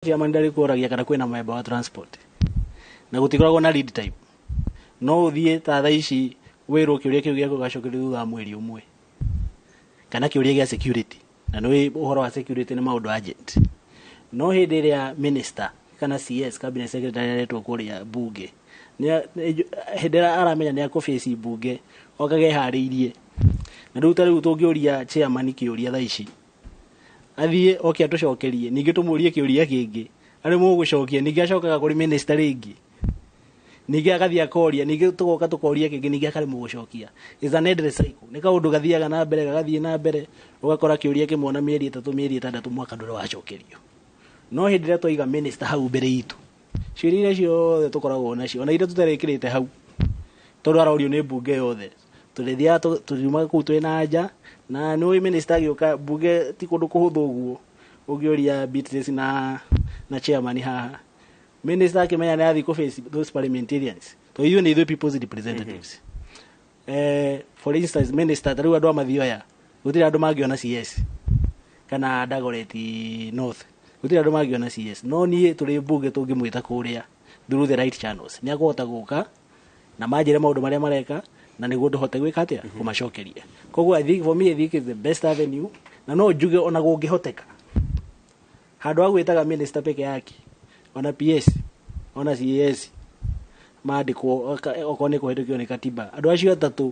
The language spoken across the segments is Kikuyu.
Kĩama nĩ ndarĩkũragia kana kwĩna mũthemba wa transport na gũtikoragwo na lead time. No ũthiĩ ta thaa ici wĩrwo kĩũria kĩu gĩaku ũgacokerio thutha wa mweri ũmwe kana kĩũria gĩa security na nĩ ũhoro wa security nĩ maũndũ urgent. No hĩndĩ ĩrĩa minister kana CS, cabinet secretary, aretwo kũrĩa mbunge, hĩndĩ ĩrĩa aramenya nĩ ekũ face mbunge okaga eharĩirie. Na rĩu ta rĩu tũngĩũria chairman kĩũria thaa ici athiĩ oke atũcokerie ningĩ tũmũrie kĩũria kĩngĩ arĩ mũgũcokia ningĩ acokaga kũrĩ mĩnĩsta rĩngĩ ningĩ agathiĩ akoria ningĩ tũgoka tũkoria kĩngĩ ningĩ akarĩ mũgũcokia is an endless cycle nĩ kaũndũ gathiaga na mbere gagathiĩ na mbere ũgakora kĩũria kĩmwe na mĩeri ĩtatũ mĩeri ĩtandatũ mwaka ndũrĩ wacokerio no hĩndĩ ĩrĩa twaiga mĩnĩsta hau mbere itũ ciũria iria ciothe tũkoragwo nacio ona iria tũtarekĩrĩte hau tondũ arorio nĩ mbunge yothe tũrĩthiaga tũ- tũriumaga kũu twĩ na nja na nĩũĩ minista agĩũka mbunge ti kũndũ kũhũthũ ũguo ũngĩũria Beatrice na na chairman haha minista akĩmenya nĩathiĩ kũ face those parliamentarians to ithuĩ nĩ ithuĩ people's representatives eh, for instance minister tarĩu andũ a mathioya gũtirĩ andũ mangĩona cs kana dagoreti north gũtirĩ andũ mangĩona cs no niĩ tũrĩ mbunge tũngĩmwĩta kũrĩa through the right channels nĩ akũhota gũka na manjĩre maũndũ marĩa mareka na nĩguo ndũhote gwĩka atĩa kũmacokeria koguo i think for me i think is the best avenue na no njuge ona gũngĩhoteka handũ wa gwĩtaga minister peke yake ona ps ona cas mandĩkwo oka- okorwo nĩ kũhĩtũkio nĩ katiba andũ acio atatũ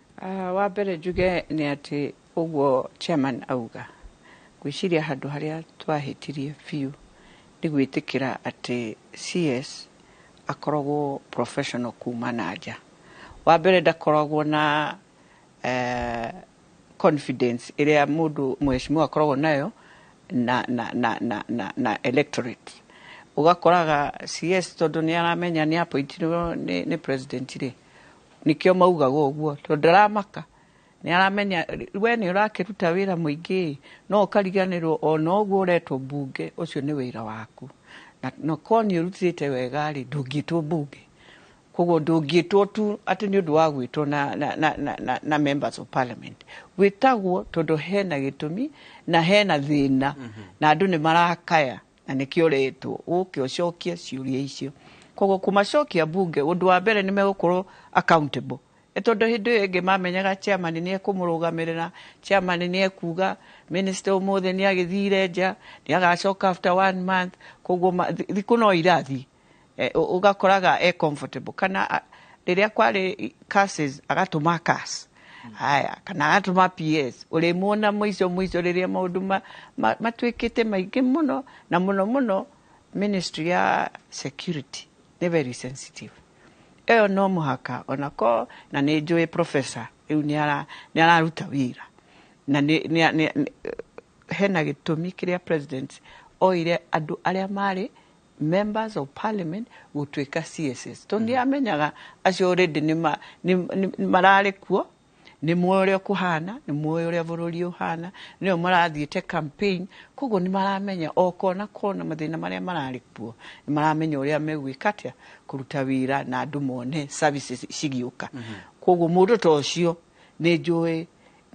Wa mbere njuge nĩ atĩ ũguo chairman auga, ngwĩciria handũ harĩa twahĩtirie biũ nĩ gwĩtĩkĩra atĩ CS akoragwo professional kuma na nja. Wa mbere ndakoragwo na confidence ĩrĩa mũndũ mũhecimiwa akoragwo nayo na, na, na, na, na, na electorate. Ũgakoraga CS tondũ nĩ aramenya nĩ appointirwo nĩ, nĩ president rĩ, Nĩkĩo maugaga ũguo tondũ ndaramaka nĩ aramenya we nĩ ũrakĩruta wĩra mũingĩ no ũkariganĩrwo ona ũguo ũretwo mbunge ũcio nĩ wĩra waku na no korwo nĩ ũrutĩte wega rĩ ndũngĩtwo mbunge koguo ndũngĩtwo tu atĩ nĩ ũndũ wa gwĩtwo na, na, na, na, na, na members of parliament gwĩtagwo tondũ hena gĩtũmi na hena thĩna na andũ nĩ marakaya Na nĩkĩo ũretwo ũke ũcokie ciũria icio. Koguo kũmacokia mbunge, ũndũ wa mbere nĩ megũkorwo accountable. Nĩ tondũ hĩndĩ ĩyo ĩngĩ mamenyaga chairman nĩ ekũmũrũgamĩrĩra, chairman nĩ ekuga minister ũmũthĩ nĩ agĩthire nja, nĩ agacoka after one month, koguo thikũ no irathiĩ. eh, ũ- ũgakoraga e comfortable kana a- rĩrĩa kwarĩ curses agatũma curse haya kana agatũma ps ũrĩmuona mũico mũico rĩrĩa maũndũ ma- ma- matuĩkĩte maingĩ mũno na mũno mũno ministry ya security nĩ very sensitive ĩyo no mũhaka onako na nĩ njũĩ professor rĩu nĩ ara- nĩ araruta wĩra na nĩ- nĩ- nĩ- nĩ- hena gĩtũmi kĩrĩa president oire andũ arĩa marĩ members of parliament gũtuĩka CSS tondũ nĩamenyaga acio already nĩ ma- nĩ- nĩ- mararĩ kuo nĩ moĩ ũrĩa kũhana nĩ moĩ ũrĩa bũrũri ũhana nĩo marathiĩte campaign koguo nĩ maramenya o kona kona mathĩna marĩa mararĩ kuo nĩ maramenya ũrĩa megwĩka atĩa kũruta wĩra na andũ mone services cigĩũka koguo mũndũ ta ũcio nĩ njũĩ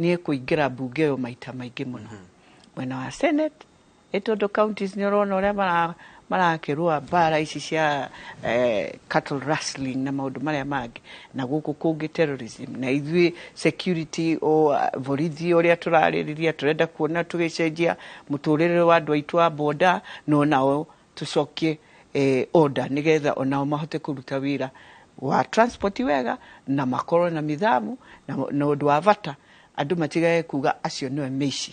nĩ ekũingĩra mbunge ĩyo maita maingĩ mũno mwena wa senate Nĩ tondũ counties nĩ ũrona ũrĩa marakĩrũa mbara ici cia cattle rustling na maũndũ marĩa mangĩ, na gũkũ kũngĩ terrorism, na ithuĩ security, borithi ũrĩa tũrarĩrĩria, tũrenda kuona tũgĩcenjia mũtũrĩre wa andũ aitũ a boda, na o nao tũcokie order nĩ getha o nao mahote kũruta wĩra wa transport wega, na makorwo na nithamu, na ũndũ wa bata andũ matigage kuuga acio nĩo mĩici.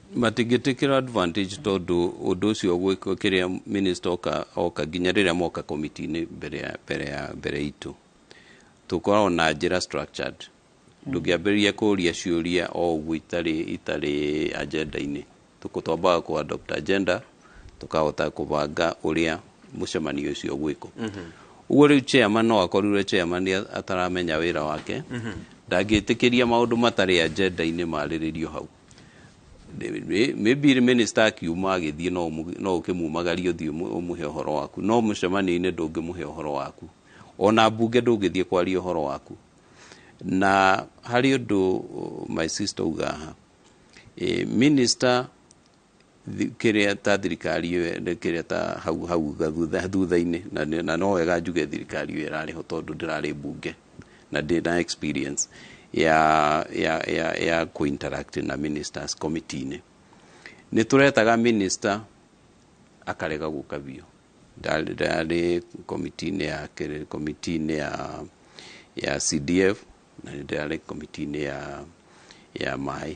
matingĩtĩkĩra advantage tondũ ũndũ ũcio gwĩkwo kĩrĩa minister oka, oka nginya rĩrĩa moka komiti-inĩ mbere ya mbere ya mbere itũ tũkoragwo na njĩra structured ndũngĩambĩrĩria kũria ciũria o ũguo itarĩ itarĩ agenda-inĩ Tũkũ- twambaga kũ adopt agenda tũkahota kũbanga ũrĩa mũcemanio ũcio gwĩkwo ũguo rĩu chairman no akorirwe chairman a- ataramenya wĩra wake ndangĩtĩkĩria maũndũ matarĩ agenda-inĩ marĩrĩrio hau maybe rĩ minister akiuma agĩthiĩ no ũmũ- no ũkĩmumagarie ũthiĩ ũmũ- ũmũhe ũhoro waku no mũcemanio-inĩ ndũngĩmũhe ũhoro waku ona mbunge ndũngĩthiĩ kwaria ũhoro waku na harĩ ũndũ uh, my sister uga haha Eh, minister kĩrĩa ta thirikari ĩyo kĩrĩa ta hau hau thutha thutha-inĩ na nĩ- na no wega njuge thirikari ĩyo ĩrarĩ ho tondũ ndĩrarĩ mbunge na ndĩ na experience ya ya ya ya kũ interact na ministers committee-inĩ nĩ tũretaga minister akarega gũka biũ Ndarĩ- ndarĩ komiti-inĩ ya kĩrĩ- komiti-inĩ ya ya CDF na nĩ ndarĩ komiti-inĩ ya ya maĩ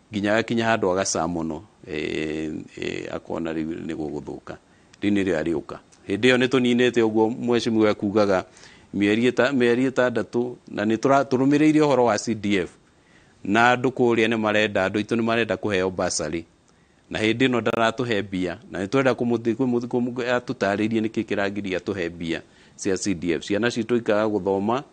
Nginya agakinya handũ agacaa mũno, akona rĩu nĩ gũgũthũka, rĩu nĩrĩo arĩũka. Hĩndĩ ĩyo nĩ tũninĩte ũguo mheshimiwa ekugaga mĩeri ĩtandatũ na nĩ tũrũmĩrĩire ũhoro wa CDF na andũ kũrĩa nĩ marenda, andũ aitũ nĩ marenda kũheo bursary na hĩndĩ ĩno ndaratũhe mbia na nĩ tũrenda atũtarĩrie nĩkĩ kĩragiria atũhe mbia cia CDF. Ciana citũ ikaga gũthoma.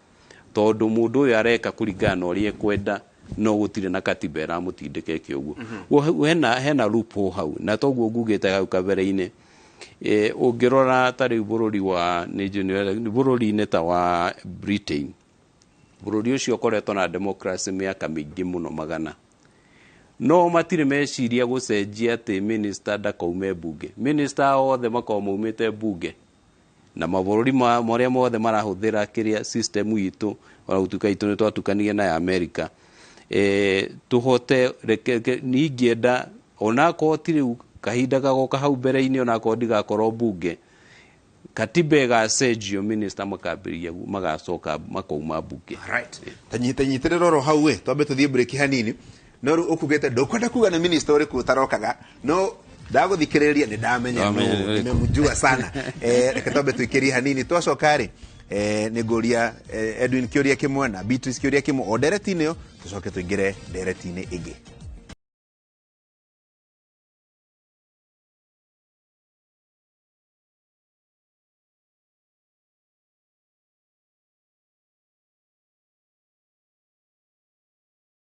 tondũ mũndũ ũyũ areka kũringana na ũrĩa ekwenda no gũtirĩ na katiba ĩramũtindĩka ĩke ũguo Guo hena, hena loophole hau na toguo ngugĩte hau kabere-inĩ e, ũngĩrora ta rĩu bũrũri wa nĩ njũĩ nĩ- bũrũri-inĩ ta wa Britain bũrũri ũcio ũkoretwo na democracy mĩaka mĩingĩ mũno magana no matirĩ meciria gũcenjia atĩ minista ndakaume mbunge minista othe makoragwo maumĩte mbunge na mabũrũri ma- marĩa mothe marahũthĩra kĩrĩa system itũ ona gũtuĩka itũ nĩ twatukanire na ya amerika e, tũhote reke- ke- niĩ ingĩenda onakorwo ti rĩu kahinda gagoka hau mbere-inĩ onakorwo ndigakorwo mbunge katiba ĩgacenjio minista makambĩrĩria gu- magacoka makauma mbunge Right. Tanyitanyitĩrĩra oro hau we twambe tũthiĩ break hanini No rĩu ũkugĩte ndũkwenda kuga nĩ minista ũrĩkũ ũtarokaga no ndagũthikĩrĩria nĩ ndamenya Ndamenya nũ, ũrĩkũ. nimemjua sana Eh, reke twambe tũikĩrie hanini twacoka rĩ eh, nĩ ngũria eh, edwin kĩũria kĩmwe na beatrice kĩũria kĩmwe o ndereti-inĩ ĩyo tũcoke tũingĩre ndereti-inĩ ĩngĩ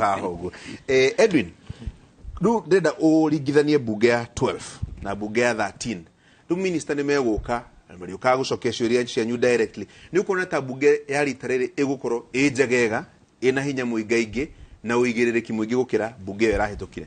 haha ũguo eh, edwin rĩu ndĩrenda ũringithanie mbunge ya 12 na mbunge ya 13 rĩu minista nĩ megũka na marĩũkaga gũcokia ciũria cianyu directly nĩ ũkuona ta mbunge ya rita rĩrĩ ĩgũkorwo ĩ njegega ĩna hinya mũingaingĩ na ũigĩrĩrĩki mũingĩ gũkĩra mbunge ĩyo ĩrahĩtũkire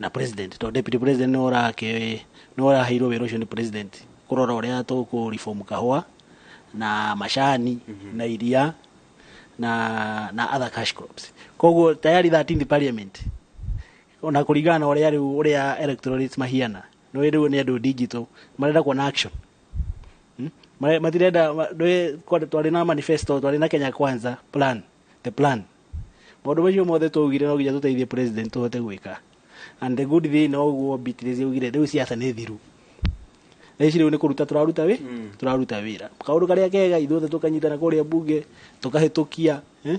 na president to deputy president nĩ ũrake nĩ ũraheirwo wĩra ũcio nĩ president kũrora ũrĩa tũkũ reform kahũa na macani na iria na na other cash crops koguo tayari 13th parliament ona kũringana na ũrĩa rĩu ũrĩa electorates mahiana nĩ ũĩ rĩu nĩ andũ digital marenda kuona action Hmm? Mare- matirenda ma- ndũĩ- kwa- twarĩ na manifesto twarĩ na kenya kwanza plan the plan maundu macio mothe twaugire no nginya tuteithie president tuhote gwika and the good thing no guo Beatrice augire riu siasa ni thiru ici riu ni kuruta turaruta wi mm. turaruta wira kaundu karia kega ithuothe tukanyitana kuria bunge tukahitukia eh?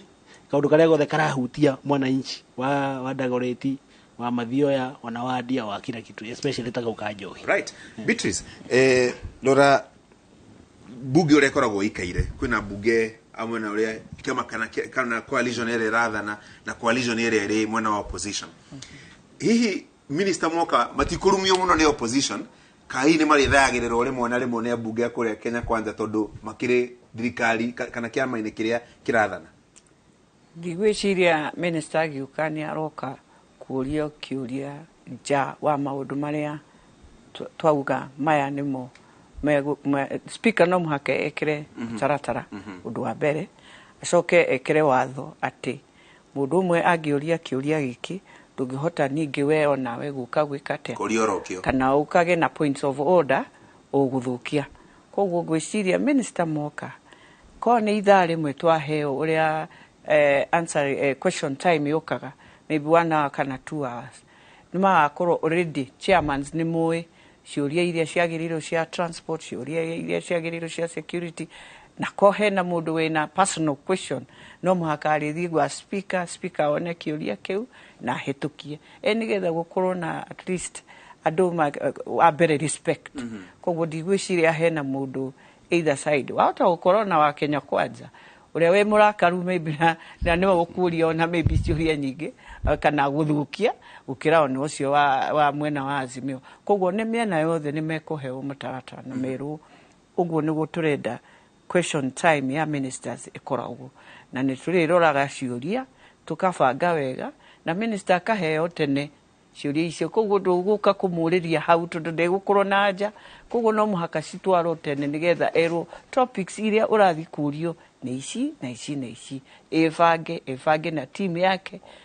kaundu karia gothe karahutia mwananchi wa wa dagoreti wa mathioya ona wa ndia wa kila kitu especially taka ukanjohi right yeah. Beatrice eh, lora mbunge ũrĩa ĩkoragwo ĩikaire kwĩna mbunge a mwena ũrĩa kĩama kana kĩa- kana coalition ĩrĩa ĩrathana na coalition ĩrĩa ĩrĩ mwena wa opposition hihi minista moka matikũrumio mũno nĩ opposition kahi nĩ marĩthayagĩrĩrwo rĩmwe na rĩmwe nĩ ambunge ya kũrĩa kenya kwanza tondũ makĩrĩ thirikari ka- kana kĩama-inĩ kĩrĩa kĩrathana Ndigwĩciria mĩnĩsta agĩũka nĩ aroka kũũrio kĩũria nja wa maũndũ marĩa twauga maya nĩmo spika no mũhaka ekĩre mhm. mũtaratara mhm. ũndũ wa mbere acoke ekĩre watho atĩ mũndũ ũmwe angĩũria kĩũria gĩkĩ ndũngĩhota ningĩ we onawe gũka gwĩka atĩa kana ũkage na points of order ũgũthũkia Koguo ngwĩciria minister mwoka, korwo nĩ ithaa rĩmwe twaheo ũrĩa answer question time yũkaga, may be one hour kana two hours, nĩ magakorwo already chairmans nĩ mũĩ ciũria iria ciagĩrĩirwo cia transport, ciũria iria ciagĩrĩirwo cia security, na korwo hena mũndũ wĩna personal question, no mũhaka arĩthiĩ gwa speaker, speaker one kĩũria kĩu na ahĩtũkie. Ĩĩ nĩgetha gũkorwo na at least andũ wa mbere respect. Kwoguo ndigwĩciria hena mũndũ either side. Wahota gũkorwo na wa Kenya Kwanza, ũrĩa wĩ mũrakaru maybe na nĩwe ũkũria ona maybe ciũria nyingĩ kana gũthũkia gũkĩra ona ũcio wa mwena wa Azimio. Kwoguo nĩ mĩena yothe nĩ mekũheo mũtaratara na merwo ũguo nĩguo tũrenda Question time ya ministers ĩkoragwo na nĩ tũrĩroraga ciũria tũkabanga wega na minister akaheo tene ciũria icio koguo ndũgũka kũmũrĩria hau tondũ ndegũkorwo na anja koguo no mũhaka citwarwo tene nĩgetha erwo topics iria ũrathiĩ kũrio nĩ ici na ici na ici. Ĩbange, ĩbange na team yake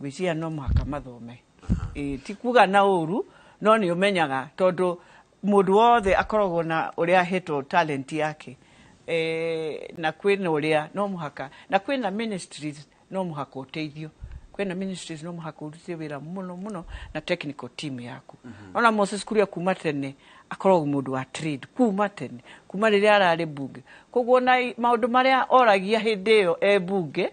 ngwĩciria no mũhaka mathome Ĩĩ, ti kuga na ũru no nĩ ũmenyaga tondũ mũndũ wothe akoragwo na ũrĩa ahetwo talent yake Eh, na kwĩna ũrĩa no mũhaka na kwĩna ministries no mũhaka ũteithio kwĩna ministries no mũhaka ũrute wĩra mũno mũno na technical team yaku ona Moses Kuria kuma tene akoragwo mũndũ wa trade kuma tene kuma rĩrĩa ararĩ bunge koguo na maũndũ marĩa oragia hĩndĩ ĩyo e bunge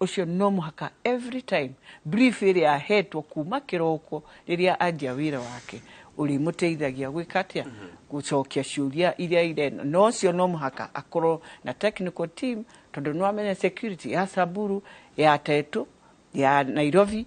Ũcio no mũhaka every time brief ĩrĩa ahetwo kuma kĩroko rĩrĩa anjia wĩra wake ũrĩmũteithagia gwĩka atĩa gũcokia ciũria iria ireno na ũcio no mũhaka akorwo na technical team tondũ nĩwamenya security ya Samburu ya Tetũ ya Nairobi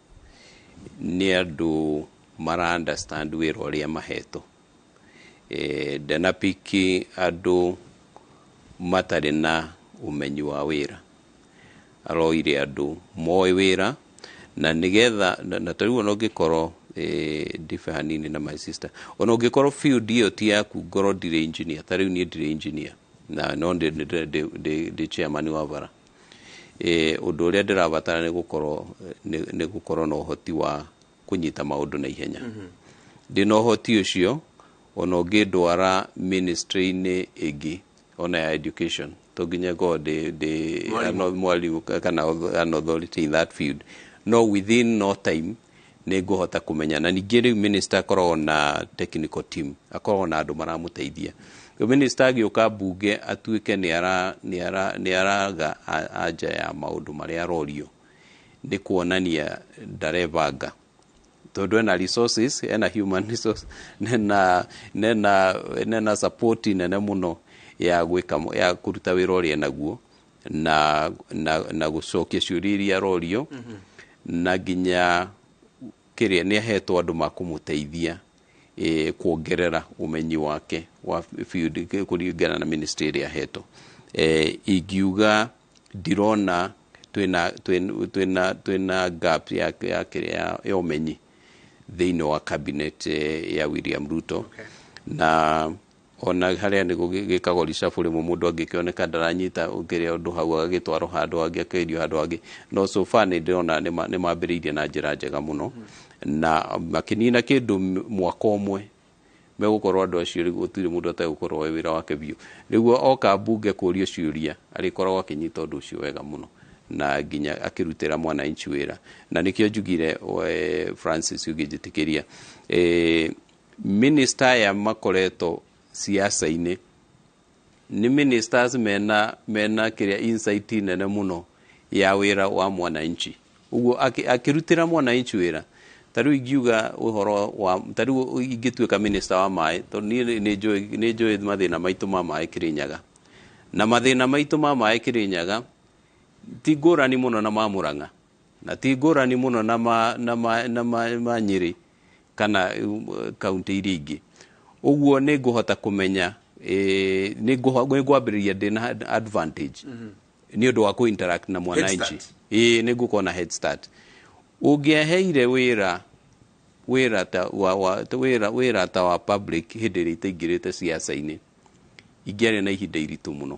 nĩ andũ mara understand wĩra ũrĩa mahetwo e, ndanapiki andũ matarĩ na ũmenyi wa wĩra aroire andũ moĩ wĩra na nĩgetha na, na tarĩu ona ũngĩkorwo e, ndibe hanini na my sister ona ũngĩkorwo field ĩyo ti yaku ngorwo ndirĩ engineer tarĩu niĩ ndirĩ engineer na no ndĩ- ndĩ- ndĩ- ndĩ- ndĩ chairman wa bara Ĩĩ, ũndũ ũrĩa ndĩrabatara nĩ gũkorwo nĩ nĩ gũkorwo na ũhoti wa kũnyita maũndũ na ihenya ndĩ na ũhoti ũcio ona ũngĩndwara ministry-inĩ ĩngĩ ona ya education to nginya ngorwo ndĩ ndĩ Mwarimũ. no- mwarimũ ka- kana auth- an authority in that field no within no time nĩ ngũhota kũmenya na ningĩ rĩu minista akoragwo na technical team akoragwo na andũ maramũteithia rĩu minista agĩũka mbunge atuĩke nĩ ara- nĩ ara- nĩ araga a- anja ya maũndũ marĩa arorio nĩ kuonania ndarebanga tondũ ena resources ena human resource nena nena nena support nene mũno ya gwĩka ya kũruta wĩra ũrĩa naguo na, na, na gũcokia ciũria iria arorio na nginya kĩrĩa nĩ ahetwo andũ makũmũteithia eh, kuongerera ũmenyi wake wa field kĩ- kũringana na ministry ĩrĩa ahetwo eh, ingiuga ndirona twĩna twĩna- twĩna twĩna gap ya ya kĩrĩa ya- ya ũmenyi thĩinĩ wa cabinet eh, ya William Ruto okay. na Ona harĩa nĩ gũgĩkagwo reshuffle rĩmwe mũndũ angĩkĩoneka ndaranyita ũkĩrĩa ũndũ hau agagĩtwarwo handũ hangĩ akairio handũ hangĩ no so far nĩ ndĩrona nĩ mambĩrĩirie na njĩra njega mũno na makĩnina kĩndũ mwaka ũmwe megũkorwo andũ acio rĩu gũtirĩ mũndũ ategũkorwo we wĩra wake biũ rĩu oka mbunge kũrio ciũria arĩkoragwo akĩnyita ũndũ ũcio wega mũno na nginya akĩrutĩra mwananchi wĩra na nĩkĩo njugire Francis ũngĩnjĩtĩkĩria e, Minister aya makoretwo siasa-inĩ nĩ ministers mena, mena kĩrĩa insight nene mũno ya wĩra wa mwananchi ũguo akĩ- akĩrutĩra mwananchi wĩra ta rĩu ingiuga ũhoro wa ta rĩu ingĩtuĩka minister wa maĩ tondũ niĩ nĩ- nĩ njũĩ- nĩ njũĩ mathĩna maitũ ma maĩ kĩrĩnyaga na mathĩna maitũ ma maĩ kĩrĩnyaga ti ngũrani mũno na ma mũrang'a Na ti ngũrani mũno na ma, na ma, na ma, ma Nyĩrĩ kana uh, kaunti iria ingĩ. Ũguo nĩ ngũhota kũmenya eh, nĩ ngũho- nĩ ngwambĩrĩria ndĩna advantage nĩ ũndũ wa kũ-interact na mwananchi. start. Ĩĩ nĩ ngũkorwo na head start. Ũngĩaheire wĩra wĩra ta wa, wa, ta wĩra, wĩra ta wa public hĩndĩ ĩrĩa itaingĩrĩte siasa-inĩ ingĩarĩ na ihinda iritũ mũno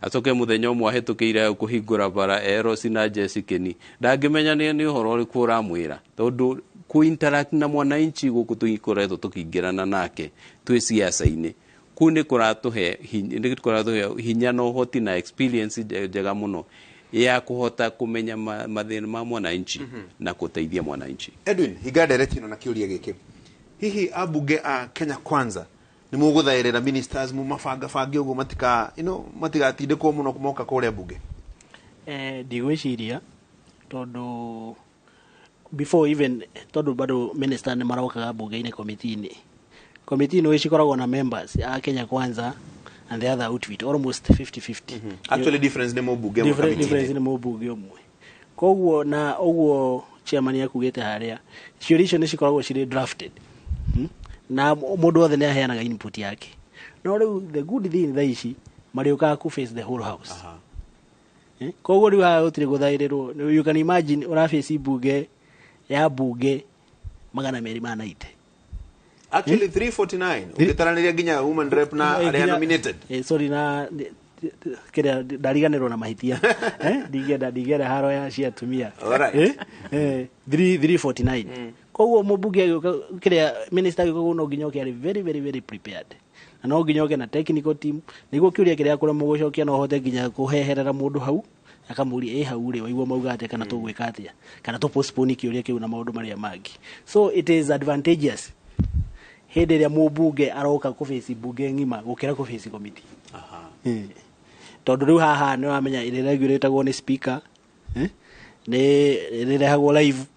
Acoke muthenya umwe ahetũkĩire hau kũhingũra bara Eros na Jesikeni. Ndangĩmenya nĩ nĩ ũhoro ũrĩkũ ũramwĩra tondũ ku interact na mwananchi gũkũ tũikoretwo tũkĩingĩrana nake twĩ siasa-inĩ kuu nĩ kũratũhe hinya- nĩ kũratũhe hinya na ũhoti na experience nje- njega mũno ya kũhota kũmenya ma- mathĩna ma mwananchi na gũteithia mwananchi Edwin hinga ndereti ĩno na kĩũria gĩkĩ hihi ambunge a Kenya Kwanza Nĩ mũgũthaĩrĩra ministers mũmabanga bange ũguo matika you know, matigatindĩkwo mũno moka kũrĩa mbunge. Eh, ndigwĩciria tondũ before even tondũ bado minister nĩ marokaga mbunge-inĩ komiti-inĩ komiti ino cikoragwo na members a Kenya Kwanza and the other outfit almost 50-50 Actually difference nĩ mũmbunge ĩmwe Different- kamiti-inĩ. difference nĩ mũmbunge ũmwe Koguo na ũguo chairman akugĩte harĩa, ciũria icio nĩ cikoragwo cirĩ drafted hmm? na mũndũ wothe nĩ aheanaga input yake no rĩu the good thing tha ici marĩũkaga ku face the whole house Aha. Eh, koguo rĩu haha gũtirĩ gũthaĩrĩrwo you can imagine ũrabĩci mbunge ya mbunge magana merĩ ma naite actually 349 ũngĩtaranĩria nginya human rep na Eh, arĩa nginya- nominated eh, sorry na kiria ndariganirwo na mahitia Eh, ndingĩenda ndingĩenda haro ya cia atumia Alright. Eh, eh, 3 349 koguo mũmbunge agĩũka kiria minister agĩũka gũkũ no nginya oke arĩ very very very prepared na no nginya oke na technical team nĩguo kĩũria kĩrĩa kũrĩa mũgũcokia no hote nginya kũheherera mũndũ hau akamũria ĩ hau rĩ waigua mauga atĩa kana tũgwĩka atĩa kana tũ postpone kĩũria kĩu na maũndũ marĩa mangĩ so it is advantageous hĩndĩ ĩrĩa mũmbunge aroka kũbĩci mbunge ng'ima gũkĩra kũbĩci komiti Eh. tondũ rĩu haha nĩ wamenya ĩrĩregio rĩtagwo nĩ speaker eh, nĩ rĩrehagwo live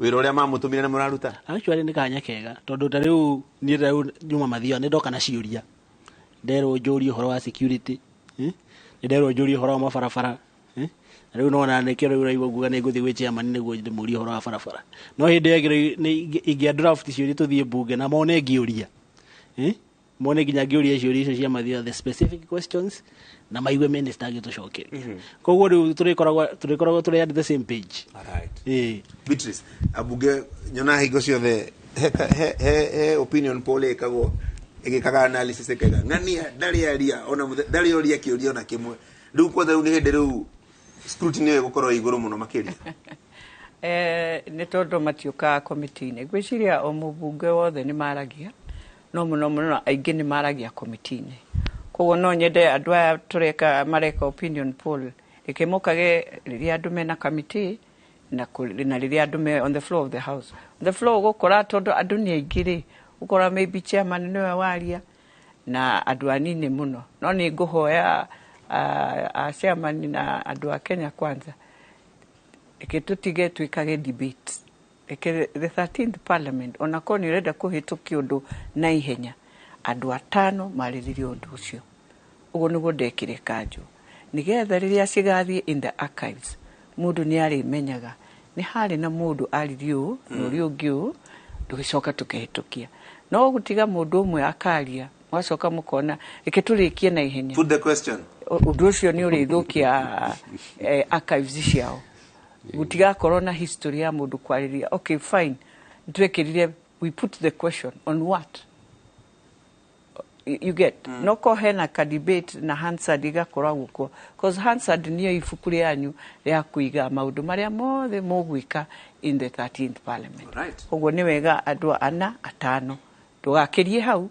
wĩra ũrĩa mamũtũmire nĩ mũraruta actually nĩ kanya kega tondũ ta rĩu niĩ ta rĩu nyuma mathia nĩ ndoka na ciũria nderwo njũrie ũhoro wa security eh? nĩ nderwo njũrie ũhoro wa mabarabara eh? na rĩu nona nĩkĩo rĩu ũraigua nguga nĩ ngũthiĩ gwĩ chairman nĩguo ndĩmũrie ũhoro wa barabara no hĩndĩ ĩyo ĩngĩ- nĩ- ingĩ- ingĩa draft ciũria tũthiĩ mbunge na mone ngĩũria eh? mone nginya ngĩũria ciũria icio cia mathiyo the specific questions na maigue minister agĩtũcokeria koguo rĩu tũrĩkoragwo tũrĩkoragwo tũrĩ at the same page Alright. Ĩĩ. Beatrice, ambunge nyonaga hingo ciothe he ka- he- he- he opinion poll ĩkagwo ĩgĩkaga analysis ĩkaiga ng'ania ndarĩ aria ona mũthe- ndarĩ oria kĩũria ona kĩmwe rĩu kwothe rĩu nĩ hĩndĩ rĩu scrutiny ĩyo ĩgũkorwo ĩĩ igũrũ mũno makĩria Eh, nĩ tondũ matiũkaga komiti-inĩ ngwĩciria o mũbunge wothe nĩ maragia no mũno mũno aingĩ nĩ maragia komiti-inĩ. Koguo no nyende andũ aya tũreka mareka opinion poll, reke mokage rĩrĩa andũ mena kamiti na rĩrĩa andũ me on the floor of the house. On the floor ũgũkora tondũ andũ nĩ aingĩ rĩ, ũgũkora maybe chairman nĩwe waria na andũ anini mũno. No nĩ ngũhoya a chairman na andũ a Kenya Kwanza, reke tũtige twĩkage debate. Reke the thirteenth parliament o na korwo nĩ ũrenda kũhĩtũkia ũndũ na ihenya, andũ atano marĩrĩrie ũndũ ũcio. Ũguo nĩguo ndekire kanjũ, nĩgetha rĩrĩa cigathiĩ in the archives, mũndũ nĩ arĩmenyaga nĩ harĩ na mũndũ aririe ũũ na ũrĩa ũngĩ ũũ, tũgĩcoka tũkĩhĩtũkia. No gũtiga mũndũ ũmwe akaria, mũgacoka mũkona reke tũrĩkie na ihenya, Put the question. ũndũ ũcio nĩ ũrĩthũkia eh, archives ciao. Gũtigakorwo na history ya mũndũ kwarĩria. Okay fine, nĩ twekĩrire, we put the question on what? You get? Mm. No ko hena ka debate na Hansard igakoragwo kuo. Because Hansard niyo ibuku rĩanyu rĩa kũiga maũndũ marĩa mothe mũgwĩka in the 13th parliament. Right. Koguo nĩ wega andũ ana atano tũgakĩrie hau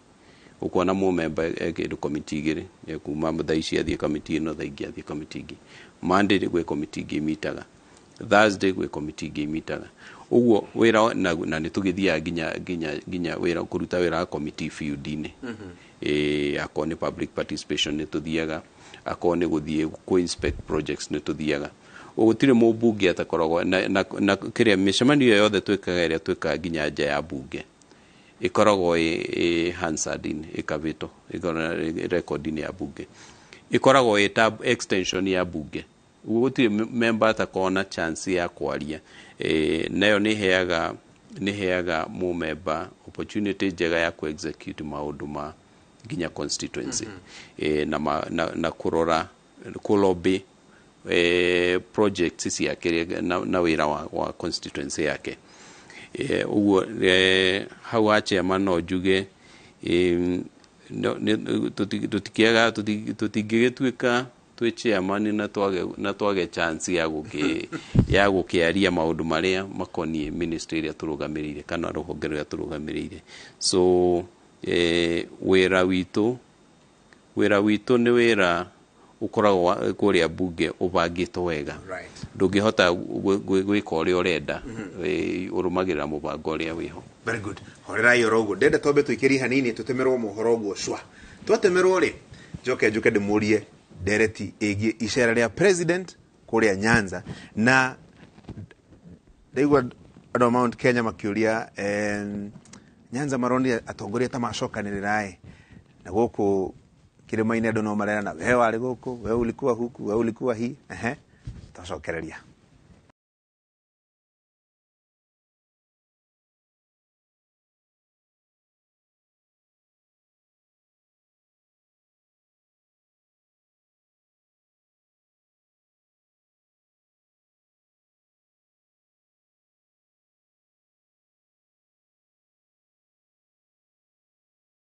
Ũkona mũmemba e kĩndũ komiti igĩrĩ, ekuma thaa ici athiĩ komiti ĩno, thaa ingĩ athiĩ komiti ingĩ. Monday gwĩ komiti ingĩ imitaga, Thursday gwĩ komiti ingĩ imitaga. Ũguo wĩra na, na nĩ tũgĩthiaga nginya nginya nginya wĩra kũruta wĩra wa komiti field-inĩ. Eh, akorwo nĩ public participation nĩ tũthiaga, akorwo nĩ gũthiĩ kũ inspect projects nĩ tũthiaga. Gũtirĩ mũmbunge atakoragwo na, na, na kĩrĩa mĩcemanio ĩyo yothe twĩkaga ĩrĩa twĩkaga nginya nja ya mbunge ĩkoragwo ĩ, ĩ Hansard in, ĩkabĩtwo ĩkoragwo ĩ rekondi-inĩ ya bunge ĩkoragwo ĩ ta extension ya bunge ũguo gũtirĩ m- member atakorwo na chance ya kwaria e, nayo nĩ heaga nĩ heaga mũmemba opportunity njega ya ku execute maũndũ ma nginya constituency e, na, ma, na, na kũrora kũlobby eh, projects ciake rĩ- na, na wĩra wa, wa constituency yake Eh, ũguo eh, hau ha chairman no njuge em, no- nĩ- tũti- tũtikĩaga tũti- tũtingĩgĩtuĩka twĩ chairman na twage na twage chance ya gũkĩ ya gũkĩaria maũndũ marĩa makoniĩ ministry ĩrĩa tũrũgamĩrĩire kana rũhonge rũrĩa tũrũgamĩrĩire so eh, wĩra witũ Wĩra witũ nĩ wĩra ũkoragwo wa- kũrĩa mbunge ũbangĩtwo wega Right. ndũngĩhota gwĩ- gwĩ- gwĩka ũrĩa ũrenda ĩ, ũrũmagĩrĩra mũbango ũrĩa wĩho very good horerai oro ũguo ndenda twambe tũikĩrie hanini tũtemerwo mohoro ũguo cwa twatemerwo rĩ njoke njũke ndĩmũrie ndereti ĩgiĩ icera rĩa president kũrĩa nyanza na ndaigua andũ a mount kenya makĩũria em, nyanza maronire atongoria ta macokanĩrĩra ĩ na gũkũ kĩrĩma-inĩ andũ no marerana we warĩ gũkũ we ulikuwa huku we ulikuwa hi ehe twacokereria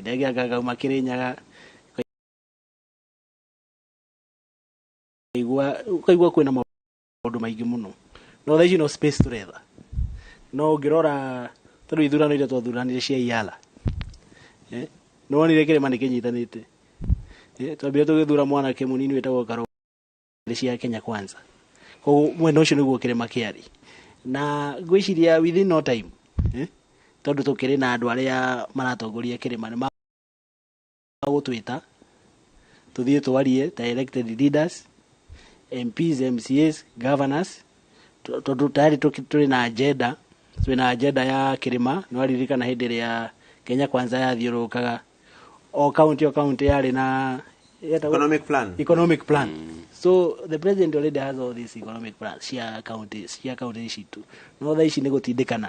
ndege ngagauma Kĩrĩnyaga ukaigua kwĩna maũndũ maingĩ mũno no thaa ici no space tũretha no ũngĩrora tondũ ithurano iria twathuranire cia iala eh, nĩ wonire kĩrĩma nĩ kĩnyitanĩte eh, twambire tũgĩthura mwanake mũnini wĩtagwo karo cia kenya kwanza koguo mwena ũcio nĩguo kĩrĩma kĩarĩ na ngwĩciria within no time eh, tondũ tũkĩrĩ na andũ arĩa maratongoria kĩrĩma nĩ ma- gũtwĩta tũthiĩ twarie ta elected leaders MPs, MCAs, governors tũ- tondũ tayari tũki- tũrĩ na agenda twĩ na agenda ya kĩrĩma nĩ waririkana hĩndĩ ĩrĩa Kenya kwanza yathiũrũrũkaga o kaunti o kaunti yarĩ na yetagwo- Economic plan. economic plan so the president already has all these economic plans cia county cia county citũ no thaa ici nĩ gũtindĩkana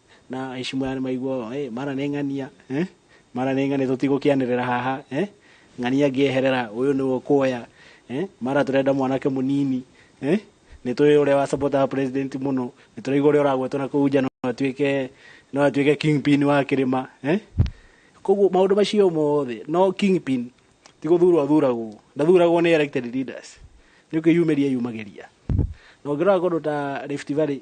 na aici mwana nĩ maigua ũũ, eh, mara nĩ ng'ania eh? mara nĩ ng'ania tũtigũkĩanĩrĩra haha eh? ng'ania ngĩeherera ũyũ nĩwe ũkuoya eh? mara tũrenda mwanake mũnini eh? nĩ tũĩ ũrĩa wa support our president mũno nĩ tũraigua ũrĩa ũragwetwo na kũu nja no atuĩke no atuĩke kingpin wa kĩrĩma eh? koguo maũndũ macio mothe no kingpin ti gũthurwo athuragwo ndathuragwo nĩ elected leaders nĩ kwĩyumĩria yumagĩria na ũngĩrora kũndũ ta Rift Valley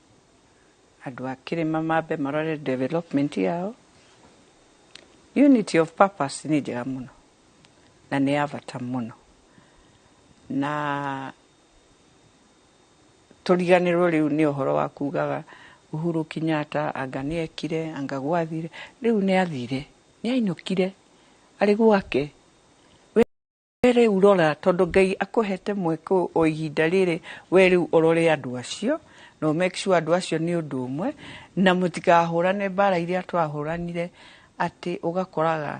Andũ a kĩrĩma mambe marore development yao. Unity of purpose nĩ njega mũno na nĩ ya bata mũno na tũriganĩrwo rĩu nĩ ũhoro wa kugaga Uhuru Kenyatta anga nĩ ekire anga gwathire rĩu nĩ athire nĩ ainũkire arĩ gwake We rĩu rora, tondũ Ngai akũhete mweke o ihinda rĩrĩ, we rĩu ũrore andũ acio, na ũ make sure andũ acio nĩ ũndũ ũmwe, na mũtikahũrane mbaara iria twahũranire, atĩ ũgakoraga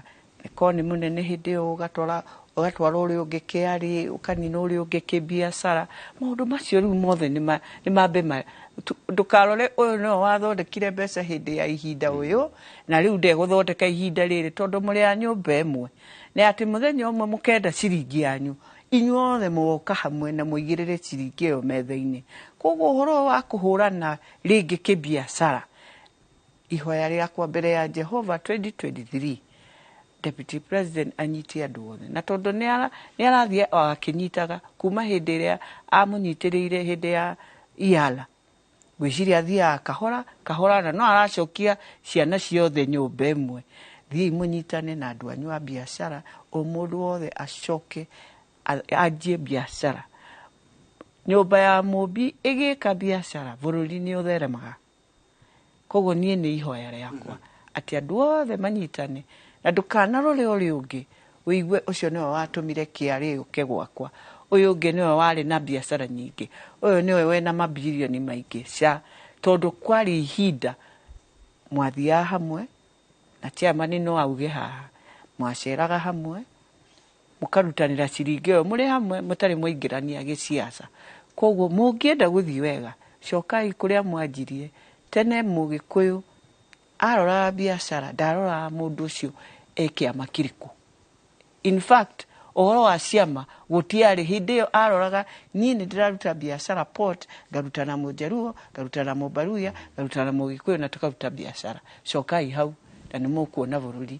korwo nĩ mũnene hĩndĩ ĩyo ũgatwara ũgatwara ũrĩa ũngĩ KRA, ũkanina ũrĩa ũngĩ kĩbiacara. Maũndũ macio rĩu mothe nĩ ma nĩ mambe ma ndũkarore ũyũ nĩwe wathondekire mbeca hĩndĩ ya ihinda ũyũ, na rĩu ndegũthondeka ihinda rĩrĩ, tondũ mũrĩ a nyũmba ĩmwe. Na atĩ mũthenya ũmwe mũkenda ciringi yanyu, inyuothe mũgoka hamwe na mũigĩrĩre ciringi ĩyo metha-inĩ. Kwoguo ũhoro ũyũ wa kũhũrana rĩngĩ kĩbiacara, ihoya rĩakwa mbere ya Jehova 2023, Deputy President anyite andũ othe. Na tondũ nĩ arathiĩ o akĩnyitaga kuuma hĩndĩ ĩrĩa amũnyitĩrĩire hĩndĩ ya Iyala. Ngwĩciria athiaga kahora kahora na no aracokia ciana ciothe nyũmba ĩmwe. Thiĩi mũnyitane na andũ anyu a biacara, o mũndũ wothe acoke anjie biacara. Nyũmba ya Mũũmbi ĩgĩka biacara, bũrũri nĩ ũtheremaga. Kwoguo niĩ nĩ ihoya rĩakwa atĩ andũ othe manyitane, na ndũkanarore ũrĩa ũngĩ, ũigue ũcio nĩwe watũmire KRA yũke gwakwa, ũyũ ũngĩ nĩwe warĩ na biacara nyingĩ, ũyũ nĩwe wĩna mabilioni maingĩ, ca, tondũ kwarĩ ihinda mwathiaga hamwe, na chairman no auge haha, mwaceraga hamwe, mũkarutanĩra ciringi ĩyo mũrĩ hamwe mũtarĩ mwaingĩrania gĩciaca. Koguo mũngĩenda gũthiĩ wega, cokai kũrĩa mwanjirie. Tene Mũgĩkũyũ aroraga biacara, ndaroraga mũndũ ũcio e kĩama kĩrĩkũ. In fact, ũhoro wa ciama gũtiarĩ. Hĩndĩ ĩyo aroraga niĩ nĩ ndĩraruta biacara Port, ngaruta na Mũjaluo, ngaruta na Mũmbaluya, ngaruta na Mũgĩkũyũ na tũkaruta biacara. Cokai hau na nĩ mũkuona bũrũri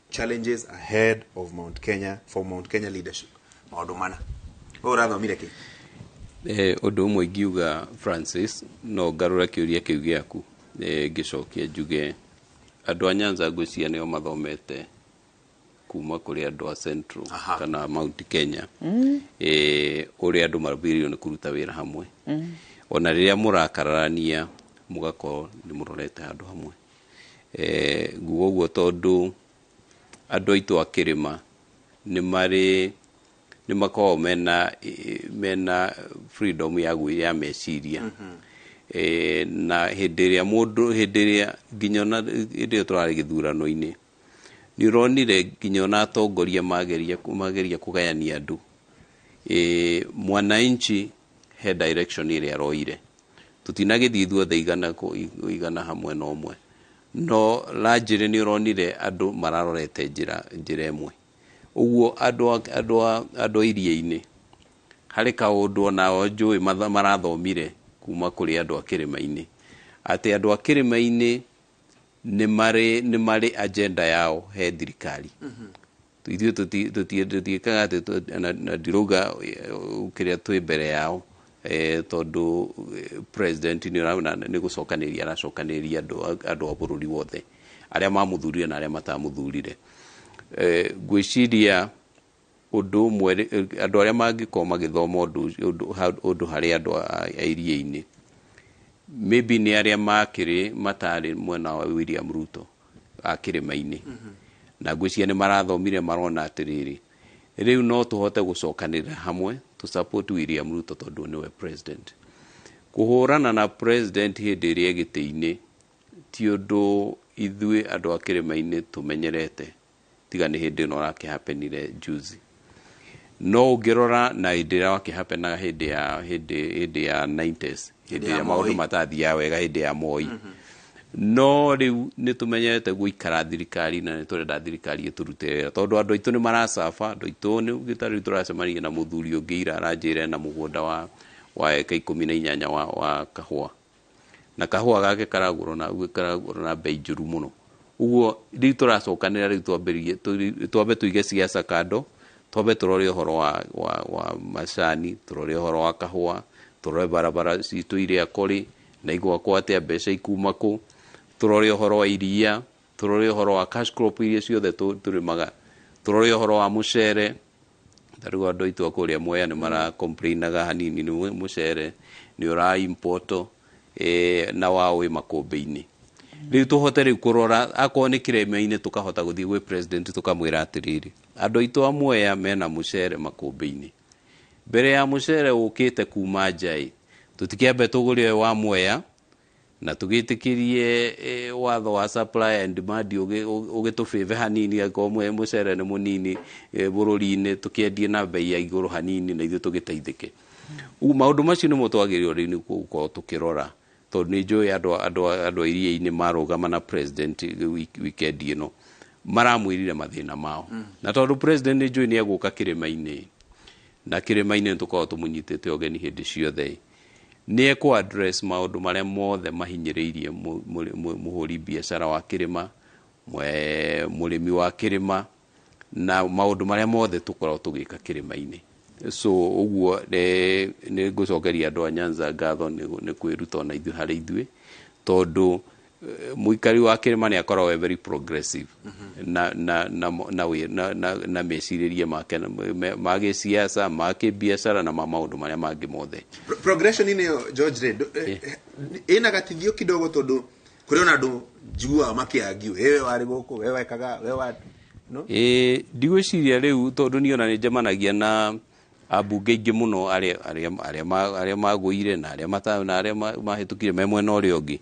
challenges ahead of Mount Kenya for Mount Kenya leadership maundu mana we urathomire ki Eh, ũndũ ũmwe ingiuga francis no ngarũra kĩũria kĩu gĩaku eh, ngĩcokia njuge andũ a nyanza ngwĩciria nĩo mathomete kuma kũrĩ andũ a central Aha. kana mount kenya eh, ũrĩa andũ mabĩrĩirio nĩ kũruta wĩra hamwe ona rĩrĩa mũrakararania mũgakorwo nĩ mũrorete handũ hamwe Eh, nguga ũguo tondũ andũ aitũ a kĩrĩma nĩ marĩ nĩ makoragwo mena eh, mena freedom ya gwĩ ya meciria Eh, na hĩndĩ ĩrĩa mũndũ hĩndĩ ĩrĩa nginya ona hĩndĩ ĩrĩa tũrarĩ gĩthurano-inĩ nĩ ũronire nginya ona atongoria mageria mageria kũgayania andũ e, mwananchi He direction ĩrĩa aroire. Tũtinagĩthiĩ ithuothe igana kũ- i- igana hamwe na ũmwe. No largely nĩ ũronire andũ mararorete njĩra njĩra ĩmwe. Ũguo andũ a- andũ a- andũ a iria-inĩ, harĩ kaũndũ onao njũĩ matha- marathomire kuma kũrĩ andũ a kĩrĩma-inĩ. Atĩ andũ a kĩrĩma-inĩ nĩ marĩ nĩ marĩ agenda yao he thirikari. ithuĩ tũti- tũti- tũtiĩkaga atĩ tũ- na- na ndirauga eh, kĩrĩa twĩ mbere yao eh, tondũ eh, president nĩ ũra- na- nĩ gũcokanĩria aracokanĩria andũ a- andũ a bũrũri wothe arĩa mamũthurire na arĩa matamũthurire Eh, ngwĩciria ũndũ ũmwe rĩ- eh, andũ arĩa mangĩkorwo magĩthoma ũndũ ũcio- ũndũ ha- ũndũ harĩ andũ a a iria-inĩ maybe nĩ arĩa makĩrĩ matarĩ mwena wa William Ruto a kĩrĩma-inĩ. Na ngwĩciria nĩ marathomire marona atĩrĩrĩ, rĩu no tũhote gũcokanĩrĩra hamwe tũ support William Ruto tondũ nĩwe president. Kũhũrana na president hĩndĩ ĩrĩa gĩtĩ-inĩ ti ũndũ ithuĩ andũ a kĩrĩma-inĩ tũmenyerete. tiga nĩ hĩndĩ ĩno ũrakĩhapenire juzi no ũngĩrora na hĩndĩ ĩrĩa wakĩhapenaga hĩndĩ ya hĩndĩ hĩndĩ ya 90s hĩndĩ ya ĩrĩa maũndũ Moi. matathiaga wega hĩndĩ ya moi no rĩu nĩ tũmenyerete gũikara thirikari na nĩ tũrenda thirikari ĩtũrute wĩra tondũ andũ aitũ nĩ maracaba andũ aitũ nĩ ũgĩta rĩu tũracemanirie na mũthuri ũngĩ ira aranjĩra na mũgũnda wa wa eka ikũmi na inyanya wa, wa kahũa na kahũa gake karagũrwo na guo karagũrwo na mbei njũru mũno uguo rĩu tũracokanĩra rĩu twambĩrĩrie tũ- twambe tũige ciaca kando twambe tũrore ũhoro wa, wa, wa macani tũrore ũhoro wa kahũa tũrore barabara citũ irĩa kũrĩ na igwakwo atĩa mbeca ikuma kũ tũrore ũhoro wa iria tũrore ũhoro wa cash crop iria ciothe tũ- tũrĩmaga tũrore ũhoro wa mũcere Ta rĩu andũ aitũ a kũrĩa Mwea nĩ mara complainaga hanini nĩ mũcere nĩ ũra import eh, na wao wĩ makũmbĩ-inĩ rĩu tũhote rĩu kũrora akorwo nĩ kĩrĩma-inĩ tũkahota gũthiĩ gwĩ president tũkamwĩra atĩrĩrĩ andũ aitũ a Mwea mena mũcere makũmbĩ-inĩ mbere ya mũcere ũkĩte kuma nja ĩ tũtikĩambe tũgũre ũyũ wa Mwea na tũgĩtĩkĩrie eh, watho wa supply and demand ũgĩ- ũgĩ- ũgĩtũbĩbe hanini angĩkorwo mwe- mũcere nĩ mũnini eh, bũrũri-inĩ tũkĩendie na mbei ya igũrũ hanini na ithuĩ tũgĩteithĩke Rĩu maũndũ macio nĩmo twagĩrĩirwo rĩu nĩ gũkorwo tũkĩrora tondũ nĩ njũĩ andũ a- andũ a- andũ a iria-inĩ marũgama na president wik- weekend ĩno maramwĩrire mathĩna mao na tondũ president nĩ njũĩ nĩ egũka kĩrĩma-inĩ na kĩrĩma-inĩ nĩ tũkoragwo tũmũnyitĩte ũgeni hĩndĩ ciothe Nĩ ekũ address maũndũ marĩa mothe mahinyĩrĩirie mũhũri biacara wa kĩrĩma, mũrĩmi wa kĩrĩma na maũndũ marĩa mothe tũkoragwo tũgĩka kĩrĩma-inĩ. So ũguo nĩ ngũcokeria andũ a Nyanza ngatho nĩ kwĩruta ona ithuĩ harĩ ithuĩ tondũ Eh, muikari wa kirima ni akorwo we very progressive mm-hmm. na na na na we na na, na meciririe make ma ge siasa ma ke biashara na ma maundu maria mangi mothe progression ni George Red eh, eh. ina gatithio kidogo tondu kuri ona andu njigua makiangiu wewe wari guku wewe wekaga wewe no eh ndigwiciria riu tondu ni ona ni njemanagia na Ambunge aingĩ mũno arĩa arĩa arĩa ma- arĩa magũire na arĩa mata na arĩa ma- mahĩtũkire me mwena ũrĩa ũngĩ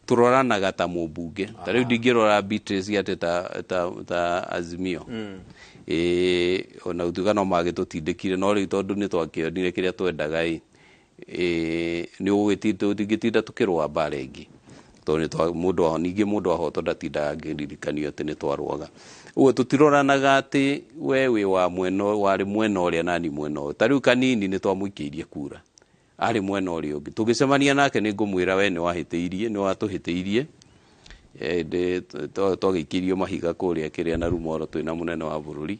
tũroranaga ta mũmbunge ta rĩu ndingĩrora Beatrice atĩ ta ta ta Azimio ĩĩ ona gũtuĩka no magĩtũtindĩkire no rĩu tondũ nĩ twakĩonire kĩrĩa twendaga ĩ eh, nĩ ũgwĩti- tũ- ndingĩtinda tũkĩrũa mbara ĩngĩ tondũ nĩ twa- mũndũ wa- ningĩ mũndũ wahotwo ndatindaga ngĩririkanio atĩ nĩ twarũaga ũguo tũtiroranaga atĩ we wĩ wa mwena ũyũ- warĩ mwena ũrĩa nani mwena ũyũ ta rĩu kanini nĩ twamũikĩirie kura arĩ mwena ũrĩa ũngĩ tũgĩcemania nake nĩ ngũmwĩra we nĩ wahĩtĩirie nĩ watũhĩtĩirie Eh, ndĩ- twa- twagĩikĩirio mahiga kũrĩa kĩrĩa na rumoro twĩna mũnene wa bũrũri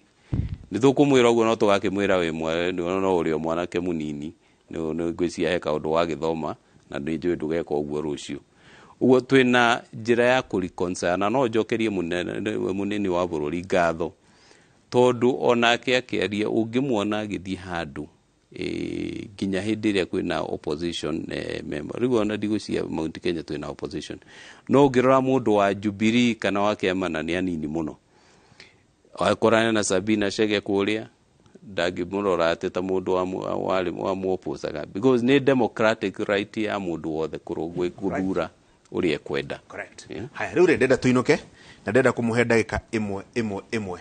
Nĩtũkũmwĩra ũguo no tũgakĩmwĩra wĩ mwe nĩ wona no ũrĩ o mwanake mũnini nĩ nĩ ngwĩciria he kaũndũ wagĩthoma na nĩ njũĩ ndũgeka ũguo rũciũ. Ũguo twĩ na njĩra ya kũ reconcile na no njokerie mũnene nĩ- mũnini wa bũrũri ngatho tondũ onake akĩaria ũngĩmuona agĩthiĩ handũ eh, nginya hĩndĩ ĩrĩa kwĩna opposition eh, member rĩu ona ndigwĩciria Mount Kenya twĩna opposition no ũngĩrora mũndũ wa Jubilee kana wa kĩama na nĩ anini mũno Akorane na Sabina Chege kũrĩa ndangĩmũrora atĩ ta mũndũ wamwoposaga because nĩ democratic right ya mũndũ wothe gũthura ũrĩa ekwenda. Haya rĩu rĩ ndenda tũinũke na ndenda kũmũhe ndagĩka ĩmwe ĩmwe ĩmwe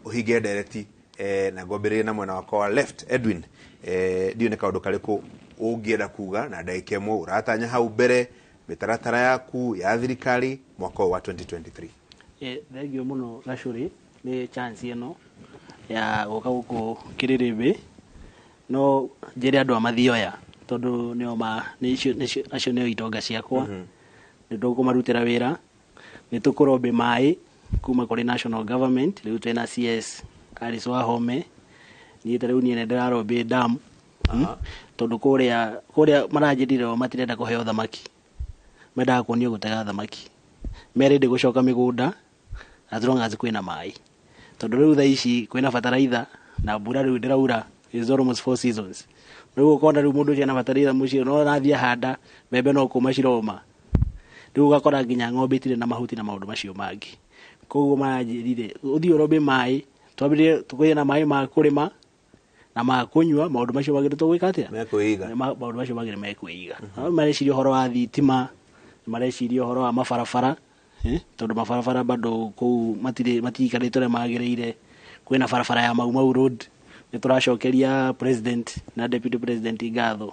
ũhinge ndereti eh, na ngwambĩrĩrie na mwena wakwa wa left Edwin eh, ndiũ nĩ kaũndũ karĩkũ ũngĩenda kuga na ndagĩka ĩmwe ũratanya hau mbere mĩtaratara yaku ya thirikari mwaka ũyũ wa 2023 Thengiũ mũno Gacũrĩ nĩ chance ĩno ya gũka gũkũ Kĩrĩrĩmbĩ, no njĩre andũ a Mathioya tondũ nĩo ma nĩcio nĩcio acio nĩo itonga ciakwa, nĩtũkũmarutĩra wĩra, nĩtũkũrombe maĩ kuma kũrĩ National Government, rĩu twĩna CS Alice Wahome, niĩ ta rĩu niĩ nĩ ndĩrarombe dam, tondũ kũrĩa kũrĩa maranjĩrire o matirenda kũheo thamaki, mendaga kuonio gũtega thamaki, me ready gũcoka mĩgũnda as long as kwĩna maĩ. Tondũ rĩu thaa ici kwĩna bataraitha na mbura rĩu ndĩraura is almost four seasons. Rĩu ũkona rĩu mũndũ ũcio ena bataraitha mũciĩ no arathiĩ ahanda mbembe no kũma ciroma. Rĩu ũgakora nginya ng'ombe itirĩ na mahuti na maũndũ macio mangĩ. Koguo maranjĩrire ũthiĩ ũrombe maĩ, twambĩrĩrie kũgĩa na maĩ ma kũrĩma. na makũnyua maũndũ macio magĩrĩtwo gwĩka atĩa mekwĩiga Ma- maũndũ macio magĩrĩ mekwĩiga mm mareciria ũhoro wa thitima nĩ mareciria ũhoro wa mabarabara eh, tondũ mabarabara bado kũu matirĩ matirikanĩte ũrĩa magĩrĩire kwĩna barabara ya maumau road nĩ tũracokeria president na deputy president ngatho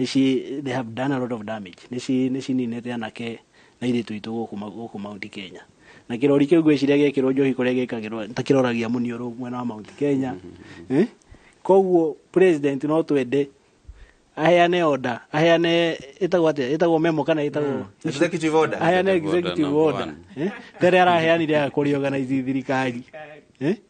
nĩci they have done a lot of damage nĩci nĩcininĩte anake na irĩtu itũ gũkũ ma- gũkũ Mount Kenya na kĩrori kĩu gwĩciria gĩkĩrwo njohi kũrĩa gĩkagĩrwo ta kĩroragia muniũrũ mwena wa Mount Kenya Eh? koguo president no twende aheane order aheane ĩtagwo atĩa ĩtagwo memo kana ĩtagwo Executive order. aheane Executive order executive number order one. Eh? tene araheanire ya kũrĩorganize thirikari Eh?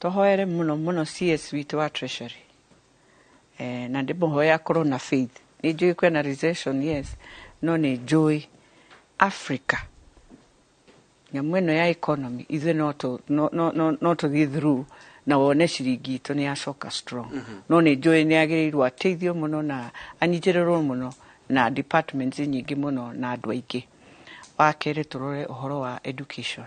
Tũhoere mũno mũno CS witũ wa treasury. Eh, na ndĩmũhoe akorwo na faith. Nĩ njũĩ kwĩna recession yes, no nĩ njũĩ Africa nyamũ ĩno ya economy ithuĩ no tũ- no- no- no- no tũthiĩ through na wone ciringi itũ nĩ yacoka strong no nĩ njũĩ nĩ agĩrĩirwo ateithio mũno na anyitĩrĩrwo mũno na departments nyingĩ mũno na andũ aingĩ wa kerĩ tũrore ũhoro wa education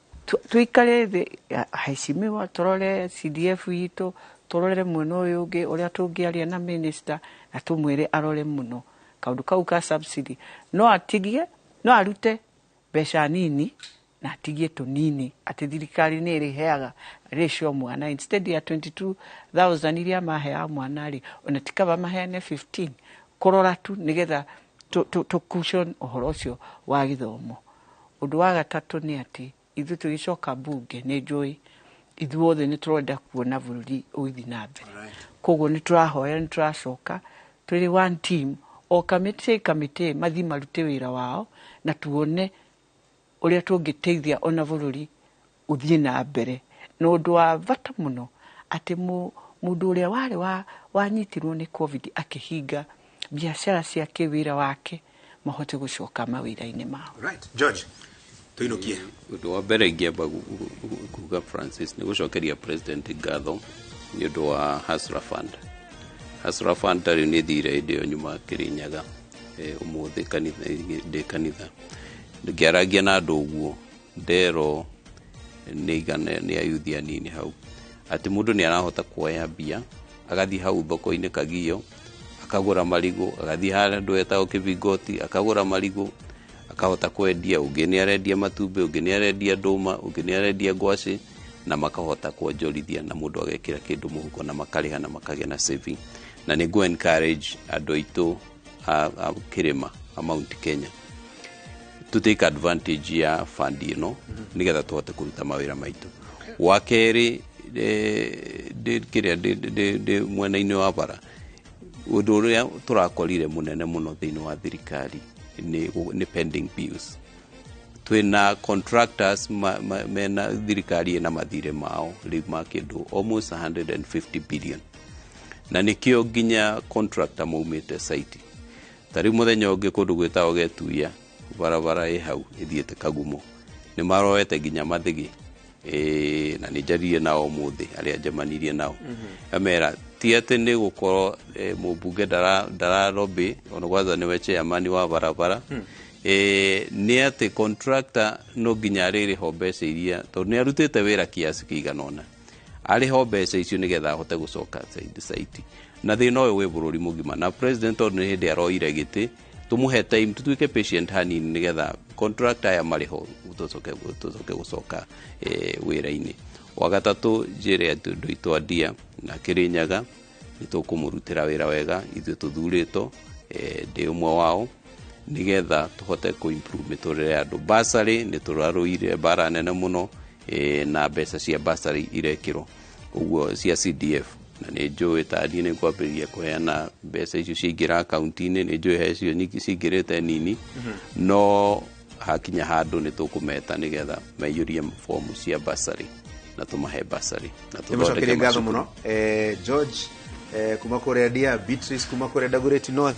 Tũikare thĩ aheshimiwa tũrore CDF itũ, tũrorere mwena ũyũ ũngĩ ũrĩa tũngĩaria na minister na tũmwĩre arore mũno kaũndũ kau ka subsidy. No atigie, no arute mbeca nini na atigie tũnini atĩ thirikari nĩ ĩrĩheaga ratio mwana instead ya twenty two thousand iria maheaga mwana rĩ, ona ti kaba maheane fifteen kũrora tu nĩgetha tũkucwo ũhoro ũcio wa gĩthomo. Ũndũ wa gatatũ nĩ atĩ, ithuĩ tũgĩcoka mbunge nĩ njũĩ ithuothe nĩ tũrenda kuona bũrũri ũgĩthiĩ na mbere. Koguo nĩ tũrahoya nĩ tũracoka twĩrĩ one team, o kamĩtĩ kamĩtĩ mathiĩ marute wĩra wao na tuone ũrĩa tũngĩteithia ona bũrũri ũthiĩ na mbere. Na ũndũ wa bata mũno atĩ mũndũ ũrĩa warĩ wa wanyitirwo nĩ Covid akĩhinga biacara ciake, wĩra wake, mahote gũcoka mawĩra-inĩ mao. Right. George, tũinũkie. Ũndũ wa mbere ingĩamba gu- gu- gu- kuga Francis nĩ gũcokeria president ngatho nĩ ũndũ wa Hasra Fund. Hasra Fund tarĩ nĩ thire hĩndĩ ĩyo nyuma Kĩrĩnyaga Eh, ũmũthĩ kanitha ndĩ kanitha ngĩaragia na andũ ũguo nderwo nĩ igana nĩ ayuthi anini hau atĩ mũndũ nĩ arahota kuoya mbia agathiĩ hau thoko-inĩ kagio akagũra marigũ agathiĩ harĩa andũ etagwo kĩbingoti akagũra marigũ akahota kwendia ũngĩ nĩ arendia matumbĩ ũngĩ nĩ arendia ndũma ũngĩ nĩ arendia ngwacĩ na makahota kuonjorithia na mundu agekira kindu muhuko na makariha na makagia na saving na ni ngu encourage andu aitu a, a kirima a Mount Kenya to take advantage ya fund ino nigetha tuhote kuruta mawira maitu wa keri ndi kiria ndi mwena-ini wa bara undu uria turakorire munene muno thiini wa thirikari ni ni pending bills twina contractors ma, ma, mena thirikari ina mathirĩ mao rĩu ma kĩndũ almost 150 billion na nĩkĩo nginya contractor maumĩte site ta rĩu mũthenya ũngĩ kũndũ gwĩtagwo getuya barabara ĩ hau ĩthiĩte kagumo nĩ maroete nginya mathigi Ĩĩ, na nĩ njaririe nao ũmũthĩ arĩa njemanirie nao amera ti atĩ nĩ gũkorwo eh, mũmbunge ndara- ndararobĩ ona gwaza nĩwe chairman wa barabara Eh, nĩ atĩ contractor no nginya arĩrĩho mbeca iria tondũ nĩ arutĩte wĩra kiasi kĩigana ũna arĩho mbeca icio nĩgetha ahote gũcoka site- site na thĩna ũyũ wĩ bũrũri mũgima na president tondũ nĩ hĩndĩ aroire gĩtĩ tumuhe time tutuike patient hanini nigetha contract aya mariho tucoke tucoke gucoka eh, wira-ini wa gatatu njire ati ndu itwandia na kirinyaga nitukumurutira wira wega ithuĩ tuthuritwo eh, ndi umwe wao nigetha tuhote ku improve miturire ya andu basari ni turarũire bara nene muno eh, na mbeca cia basari irekirwo koguo cia CDF na nĩ njũĩ ta niĩ nĩ ngwambĩrĩria kũheana mbeca icio ciaingĩra akaunti-inĩ nĩ njũĩ he icio nyingĩ cingĩrĩte nini no hakinya handũ nĩ tũkũmeta nĩgetha maiyũrie fomu cia basarĩ na tũmahe basarĩ na tũthondeke tũmũcokerie ngatho macukuru. mũno eh, george eh, kuma kũrĩa dia beatrice kuma kũrĩa dagoreti north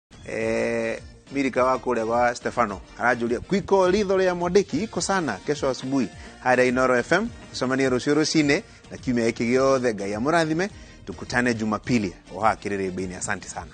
eh, mirika wa kũrĩa gwa stefano aranjũria kwiko ritho rĩa mwandĩki iko sana kesho asubuhi harĩa inoro fm icemanie rũciũ rũcinĩ na kiumia gĩkĩ gĩothe ngai amũrathime tukutane jumapili oha kĩrĩrĩmbĩinĩ asante sana